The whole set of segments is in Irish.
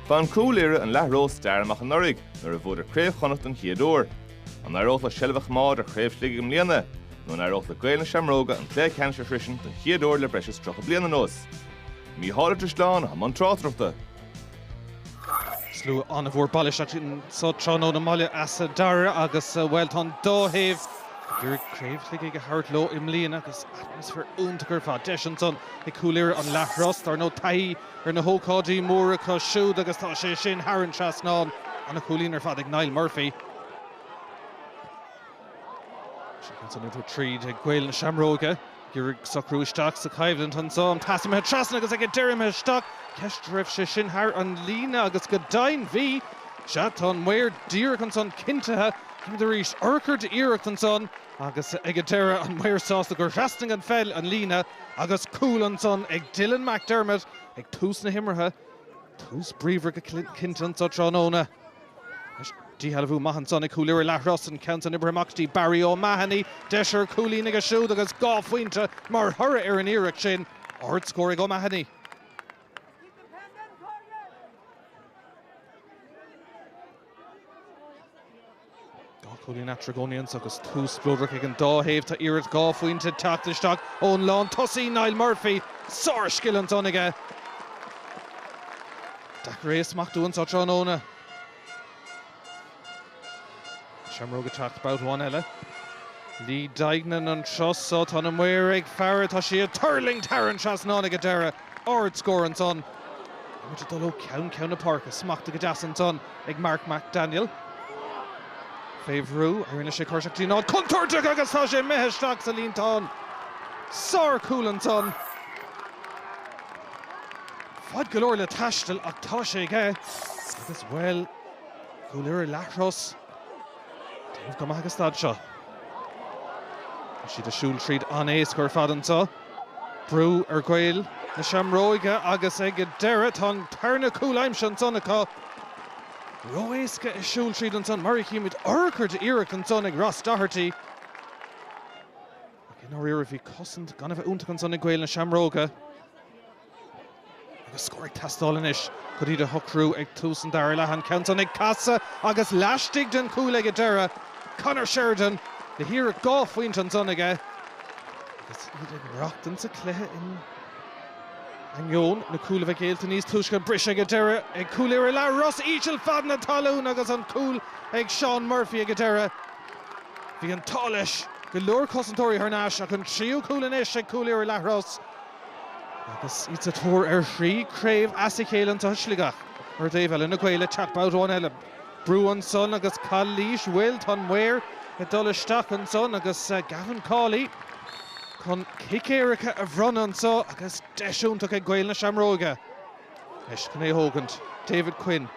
Bhain Cúil Irra an Leathros stair amach anuraidh nuair a bhuadar Craobh Chonnacht don chéad uair. An éireodh leo seilbh a choimeád ar Chraobh Shligigh i mbliana? Nó an éireodh le Gaeil na Seamróige an Cluiche Ceannais a shroisint don chéad uair le breis is tríocha bliain anuas? Mícheál Ó Drisleáin a bhí i mbun tráchtaireachta. Slua an-mhór bailithe isteach anso tráthnóna i mBaile Easa Dara agus, bhuel, tá an dá thaobh ag iarraidh Craobh Shligigh a thabhairt leo i mbliana agus atmaisféar iontach ar fad. Deis ansan ag Cúil Irra an Leathros. Dar ndóigh taithí ar na hócáidí móra acu siúd agus tá sé sin thar an trasnán. An-chúilín ar fad ag Niall Murphy. Seo caite an iarthar tríd ag Gaeil na Seamróige. Ag iarraidh socrú isteach sa choimhlint ansan. An pas imithe trasna agus ag an deireadh imithe isteach. Ceist raibh sé sin thar an líne agus go deimhin bhí. Sea tá an maor díreach ansan cinntithe. Chímid arís. Urchar d'iarracht ansan. Agus ag an deireadh, an maor sásta gur thrasnaigh an pheil an líne agus cúl ansan ag Dylan McDermott ag tús na himeartha. Tús bríomhar go cinnte anso tráthnóna. Díshealbhú maith ansan ag Cúil Irra Leathros, an ceann san oibrithe amach go dtí Barry O'Mahony. Deis ar chúilín aige siúd agus dhá phointe mar thoradh ar an iarracht sin. Ard-scór ag O'Mahony. Dhá chúilín eatarthu i gcónaí anois agus tús spleodrach ag an dá thaobh. Tá iarracht dhá phointe ag teacht isteach ón lán tosaí, Niall Murphy. Sárscil ansan aige. Deacair é a smachtú anso tráthnóna. Na Seamróga ag teacht babhta amháin eile. Lee Deignan an turas so. Tá na maoir ag faire. Tá sí ag tuirlingt thar an trasnán ag an deireadh. Ard scór ansan. Tá muid ag dul ó cheann ceann na páirce. Smachtaithe go deas ansan ag Mark McDaniel. Fé bhrú a rinne sé cur isteach go dtí an áit contúirteach agus tá sé imithe isteach sa líontán. Sár chúl ansan. Fad go leor le taisteal ach tá sé aige agus bhuel Cúil Irra Leathros ag déanamh go maith ag an staid seo. Tá siad ag siúl tríd an-éasca ar fad anso. Brú ar Ghaeil na Seamróige agus ag an deireadh tá an tarna cúl aimsithe ansan acu. Ró-éasca ag siúl tríd ansan mar a chímid urchar d'iarracht ansan ag Ross Doherty. Ach i ndáiríre bhí cosaint gan a bheith iontach ansan ag Gaeil na Seamróige. Agus scór ag teastáil anois chun iad a shocrú ag tús an dara leath, an ceann san ag casadh agus laistigh den chúl ag an deireadh, Conor Sheridan le hiarracht dhá phointe ansan aige agus iad ag maireachtaint sa chluiche in ainneoin na cúil a bheith géillte níos túisce. Briseadh ag an deireadh ag Cúil Irra Leathros, íseal fad na talún agus an cúl ag Seán Murphy ag an deireadh. Bhí an t-ádh leis go leor cosantóirí thar n-ais ach an tríú cúl anois ag Cúil Irra Leathros. Agus iad sa tóir ar thrí craobh as a chéile anseo i Sligeach, ar thaobh eile na Gaeil ag teacht babhta amháin eile. Brú ansan agus calaois bhuel tá an maor ag dul isteach ansan agus Gavin Cawley chun cic éirice a bhronnadh anso agus deis iontach ag Gaeil na Seamróige anois chun é a thógaint. David Quinn.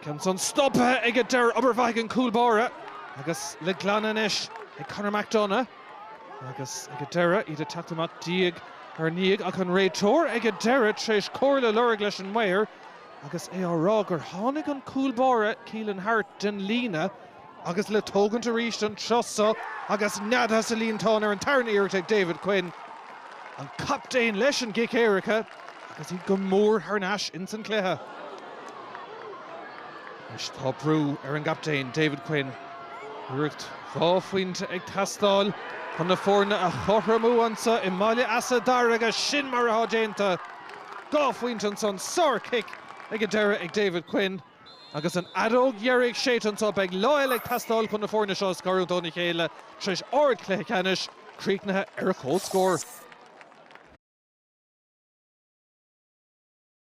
Cic ansan stoptha aige. D'oir obair mhaith ag an cúlbáire agus le glanadh anois ag Conor McDonagh. Agus ag a deireadh, iad ag teacht amach diaidh ar ndiaidh, ach an réiteoir ag a deireadh tar éis comhairle a lorg leis an maor agus é á rá gur tháinig an cúlbáire Keelan Harte den líne agus le tógaint arís ansosa agus neadaithe sa líontán ar an tarna iarracht ag David Quinn, an captaen leis an gcic éirice. Agus iad go mór thar n-ais ins an cluiche anois tá brú ar an gcaptaen, David Quinn. Iarracht dhá phoinnte ag teastáil chun na foirne a chothromú annso i mBaile Easa Dara agus sin mar atá déanta! Dhá phoinnte ansan sárchic ag an deireadh ag David Quinn. Agus an fheadóg dheiridh séidte annso, beidh lá eile ag teastáil chun na foirne seo a scarúint óna chéile tar éis ardchluiche ceannais, críochnaithe ar comhscór.